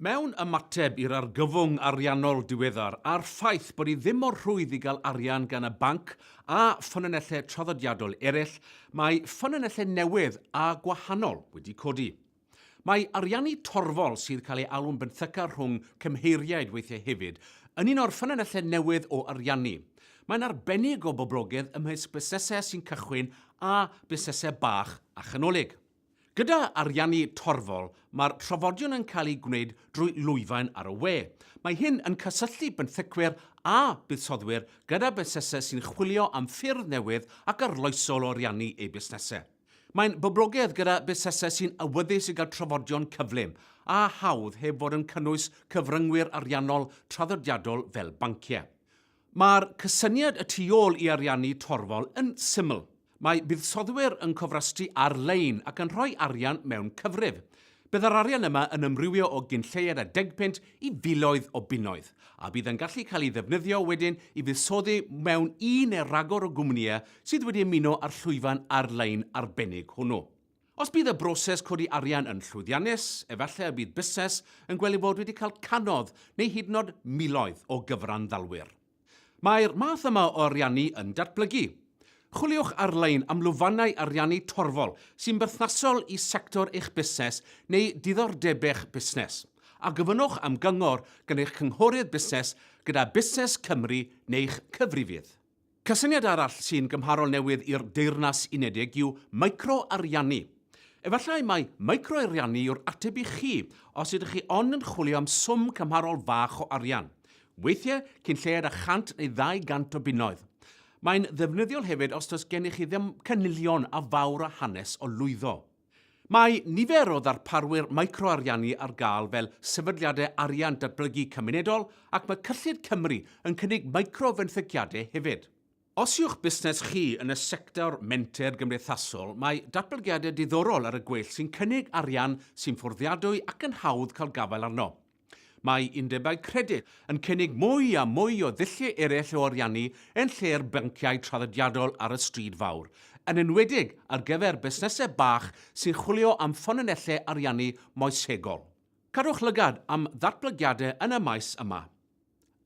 Mewn ymateb i'r argyfwng ariannol diweddar a'r ffaith bod hi ddim mor rhwydd i gael arian gan y banc a ffynonellau traddodiadol eraill, mae ffynonellau newydd a gwahanol wedi codi. Mae ariannu torfol, sydd cael ei alw'n benthyca rhwng cymheiriaid weithiau hefyd, yn un o'r ffynonellau newydd o ariannu. Mae'n arbennig o boblogaidd ymysg busnesau sy'n cychwyn a busnesau bach a chanolig. Gyda ariannu torfol, mae'r trafodion yn cael eu gwneud drwy lwyfaen ar y we. Mae hyn yn cysylltu benthycwyr a buddsoddwyr gyda busnesau sy'n chwilio am ffyrdd newydd ac arloesol o ariannu eu busnesau. Mae'n boblogaidd gyda busnesau sy'n awyddus i gael trafodion cyflym a hawdd heb fod yn cynnwys cyfryngwyr ariannol traddodiadol fel banciau. Mae'r cysyniad y tu ôl i ariannu torfol yn syml. Mae buddsoddwyr yn cofrestru ar-lein ac yn rhoi arian mewn cyfrif. Bydd yr arian yma yn ymrywio o gyn lleied a degpunt i filoedd o bunnoedd, a bydd yn gallu cael ei ddefnyddio wedyn i fuddsoddi mewn un neu ragor o gwmnïau sydd wedi ymuno â'r llwyfan ar-lein arbennig hwnnw. Os bydd y broses codi arian yn llwyddiannus, efallai y bydd busnes yn gweld ei fod wedi cael cannoedd neu hyd yn oed miloedd o gyfranddalwyr. Mae'r math yma o ariannu yn datblygu. Chwiliwch ar-lein am lwyfannau ariannu torfol sy'n berthnasol i sector eich busnes neu diddordeb'eich busnes, a gofynnwch am gyngor gan eich cynghorydd busnes gyda Busnes Cymru neu'ch cyfrifydd. Cysyniad arall sy'n gymharol newydd i'r Deyrnas Unedig yw micro-ariannu. Efallai mai micro-ariannu yw'r ateb i chi os ydych chi ond yn chwilio am swm cymharol fach o arian, weithiau cyn lleied â 100 neu 200 o bunnoedd. Mae'n ddefnyddiol hefyd os does gennych chi ddim cynilion a fawr o hanes o lwyddo. Mae nifer o ddarparwyr micro-ariannu ar gael fel sefydliadau arian datblygu cymunedol ac mae Cyllid Cymru yn cynnig micro-fenthyciadau hefyd. Os yw'ch busnes chi yn y sector menter gymdeithasol, mae datblygiadau diddorol ar y gweill sy'n cynnig arian sy'n fforddiadwy ac yn hawdd cael gafael arno. Mae undebau credyd yn cynnig mwy a mwy o ddulliau eraill o ariannu yn lle'r banciau traddodiadol ar y stryd fawr, yn enwedig ar gyfer busnesau bach sy'n chwilio am ffynonellau ariannu moesegol. Cadwch lygad am ddatblygiadau yn y maes yma.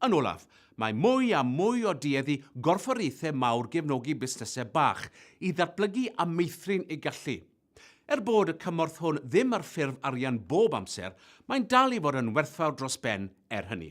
Yn olaf, mae mwy a mwy o dueddu gorfforiaethau mawr gefnogi busnesau bach i ddatblygu a meithrin eu gallu. Er bod y cymorth hwn ddim ar ffurf arian bob amser, mae'n dal i fod yn werthfawr dros ben er hynny.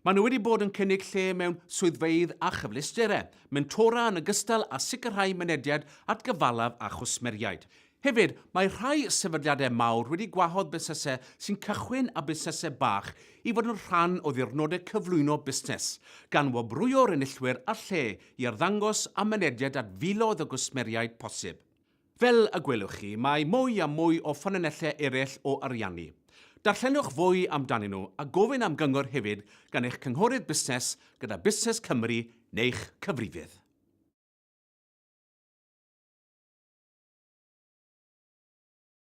Maen nhw wedi bod yn cynnig lle mewn swyddfeydd a chyfleusterau, mentora yn ogystal â sicrhau mynediad at gyfalaf a chwsmeriaid. Hefyd, mae rhai sefydliadau mawr wedi gwahodd busnesau sy'n cychwyn a busnesau bach i fod yn rhan o ddiwrnodau cyflwyno busnes, gan wobrwyo'r enillwyr â lle i arddangos a mynediad at filoedd o gwsmeriaid posib. Fel y gwelwch chi, mae mwy a mwy o ffynonellau eraill o ariannu. Darllenwch fwy amdanyn nhw a gofyn am gyngor hefyd gan eich cynghorydd busnes gyda Busnes Cymru neu'ch cyfrifydd.